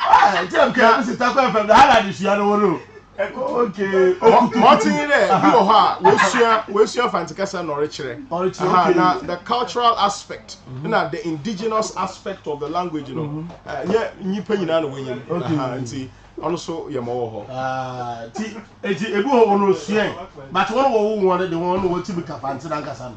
Mɔtsen dɛ bi wɔ hɔ a woesua woesua Fantse kasa na ɔrekyerɛ na the cultural aspect na the indigenous aspect of the language no nnyɛ nyimpa nyina na wonyim ntsi ɔno so yɛ ma ɔwɔ hɔ. Ntsi bi wɔ hɔ hɔn osuae but hɔn wɔwoo hɔn no dze hɔn na wotsim ka Fantse nankasa no.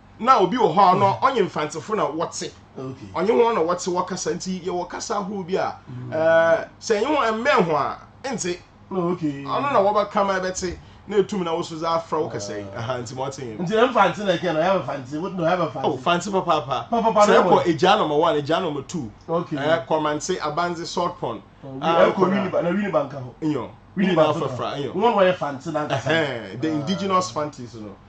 na obi wɔ hɔ a ɔno ɔnye mfantsefo na wɔtse ɔnye hɔn na wɔtse wɔkasa nti yɛwɔ kasa ahorow bi a mm. eh, sɛ ɛnye hɔn ɛmmɛn ho a ɛntse ɔno na wɔbɛka ma ɛbɛtse na etum na woso dza afra wo kasa yi ah. nti ma ɔtse nti mfantse na ɛkɛ na ɔyɛ mfantse wo na ɔyɛ mfantse oh fantse papaapa sɛ ɛkɔ egya nɔmba one egya nɔmba two eh, kɔmantse abandze salt pond ɛkɔ wini ba na wini ba nka ho nyɔ wini na afrafra nyɔ wɔn wɔyɛ fantse na nkasa the indigenous fantes no.